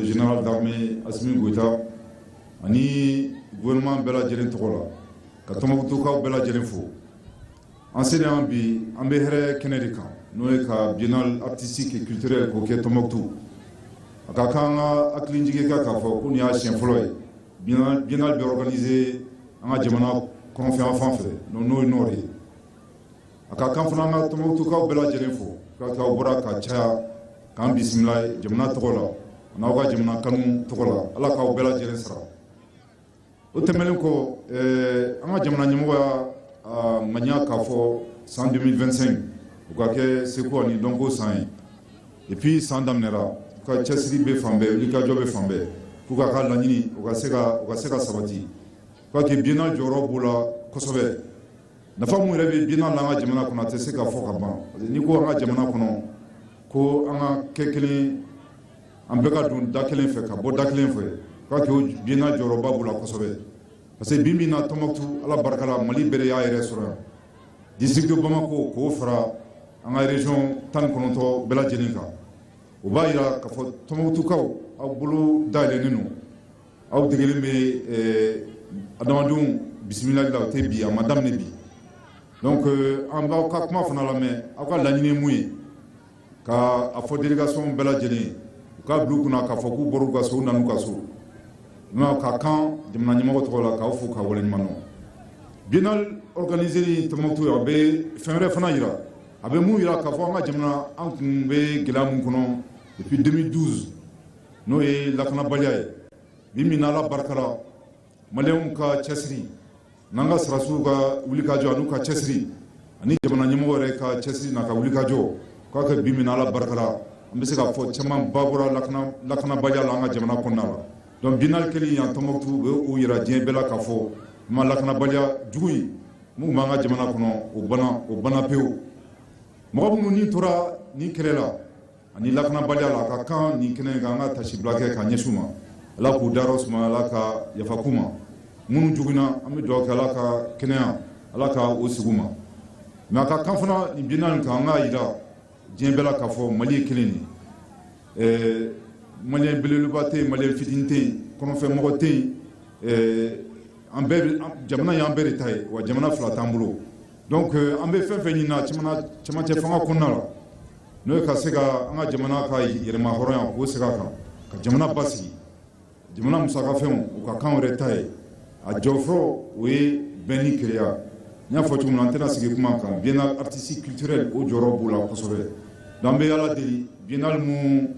Général d'armée Assimi Goïta ani gouvernement bɛɛ lajɛlen tɔgɔ la, ka Tɔnbukutukaw bɛɛ lajɛlen fo. An selen yan bi, an bɛ hɛrɛ kɛnɛ de kan, n'o ye ka biennale artistique et culturelle k'o kɛ Tɔnbukutu. A ka kan an ka hakili jigin k'a fɔ ko nin y'a siɲɛ fɔlɔ ye biennale bɛ organiser an ka jamana kɔrɔnfɛ yanfan fɛ, n'o ye Nord ye. a ka kan fana ka tɔnbɔkutukaw bɛɛ lajɛlen fo ka k'aw bɔra ka caya k'an bisimila jamana tɔgɔ la an'aw ka jamana kanu tɔgɔ la ala k'aw bɛɛ lajɛlen sara o tɛmɛnen kɔ eh, an ka jamana ɲɛmɔgɔ y'a ŋaniya k'a fɔ san 2025 o ka kɛ seko ani dɔnko san ye depuis san daminɛra u ka cɛsiri bɛ fan bɛɛ wulikajɔ bɛ fan bɛɛ pour k'a ka laɲini o ka se ka sabati o ka kɛ biennale jɔyɔrɔ b'o la kosɛbɛ nafa mun yɛrɛ bɛ biennale la an ka jamana kɔnɔ a tɛ se ka fɔ ka ban n'i ko an ka jamana kɔnɔ ko an ka kɛ kelen an bɛɛ ka don da kelen fɛ ka bɔ da kelen fɛ k'a kɛ biennale jɔyɔrɔba b'o la kosɛbɛ parce que bi bi in na tɔnbɔkutu ala barika la mali bɛɛ y'a yɛrɛ sɔrɔ yan district bamako k'o fara an ka région tan ni kɔnɔntɔn bɛɛ lajɛlen kan o b'a jira k'a fɔ tɔnbɔkutukaw aw bolo dayɛlɛnnen don aw degelen bɛ adamadenw bisimilali la o tɛ bi a ma daminɛ bi donc euh, an b'aw ka kuma fana lamɛn aw ka laɲini mun ye k'a fɔ délégation bɛɛ lajɛlen u k'a bila u kunna k'a fɔ k'u bɔr'u ka so u nan'u ka so nka a ka kan jamana ɲɛmɔgɔ tɔgɔ la k'aw fo k'aw waleɲuman dɔn biennale organiseli Tombouctou a bɛ fɛn wɛrɛ fana jira a bɛ mun jira k'a fɔ an ka jamana an tun bɛ gɛlɛya min kɔnɔ depuis 2012 n'o ye lakanabaliya ye bi min ala barika la maliyɛnw ka cɛsiri n'an ka sɔrɔdasiw ka wulikajɔ an'u ka cɛsiri ani jamana ɲɛmɔgɔ yɛrɛ ka cɛsiri n'a ka wulikajɔ k'a kɛ bi min ala barika la an bɛ se k'a fɔ camanba bɔra lakanabaliya la an ka jamana kɔnɔna la donc biennale kɛli yan tɔnbɔkutu o b'a yira diɲɛ bɛɛ la k'a fɔ ma lakanabaliya jugu in mun b'an ka jamana kɔnɔ o bana o bana pewu mɔgɔ minnu ni tora nin kɛlɛ la ani lakanabaliya la a ka kan nin kɛnɛ in kan an ka tasibila kɛ ka ɲɛsin u ma ala k'u dayɔrɔ suma ala ka yafa k'u ma minnu joginna an bɛ dugawu kɛ ala k'u kɛnɛya ala ka o sigi ma mɛ a ka kan fana nin biennale nin kan an k'a jira diɲɛ bɛɛ la k'a fɔ mali ye kelen ye ɛɛ maliyɛn belebeleba tɛ yen maliyɛn fitini tɛ yen kɔrɔnfɛmɔgɔ tɛ yen ɛɛ an bɛɛ jamana y'an bɛɛ de ta ye wa jamana fila t'an bolo donc an bɛ fɛn fɛn ɲini na cɛmancɛ fanga kɔnɔna la n'o ye ka se ka an ka jamana ka yɛlɛma hɔrɔnya k'o segin a kan ka jamana basigi jamana musakafɛnw u ka kan wɛrɛ ta ye a jɔ fo o ye bɛn ni kelenya n y'a fɔ cogo min an tɛna sigi kuma kan biennale artistique culturelle o jɔyɔrɔ b'o la kosɛbɛ n'an bɛ ala deli biennale min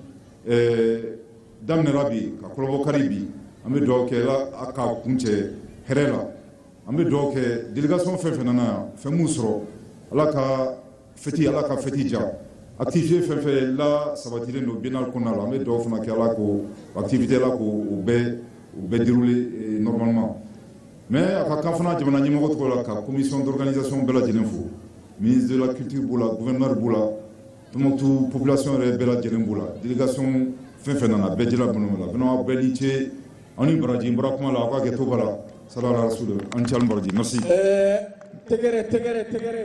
daminɛra bi ka kurunbonkari bi an bɛ dugawu kɛ a ka kuncɛ hɛrɛ la an bɛ dugawu kɛ délégation fɛn fɛn nana yan fɛn' sɔrɔ ala ka fiti ala ka fiti jan activité fɛn fɛn la sabatilen don biennale kɔnɔna la an bɛ dugawu fana kɛ ala ka activité la ko u bɛɛ u bɛɛ déroulé eh, normalement mais a ka kan fana jamana ɲɛmɔgɔ tɔgɔ la ka commission d'organisation bɛɛ lajɛlen fo ministre de la culture b'o la gouverneur b'o la Tombouctou population yɛrɛ bɛɛ lajɛlen b'o la délégation fɛn fɛn nana bɛɛ jɛla b'o la bɛnɔ bɛɛ ni ce aw ni baraji n bɔra kuma la aw ka hakɛto ba la salala rasul aw ni ce baraji merci eh, tɛgɛrɛ tɛgɛrɛ tɛgɛrɛ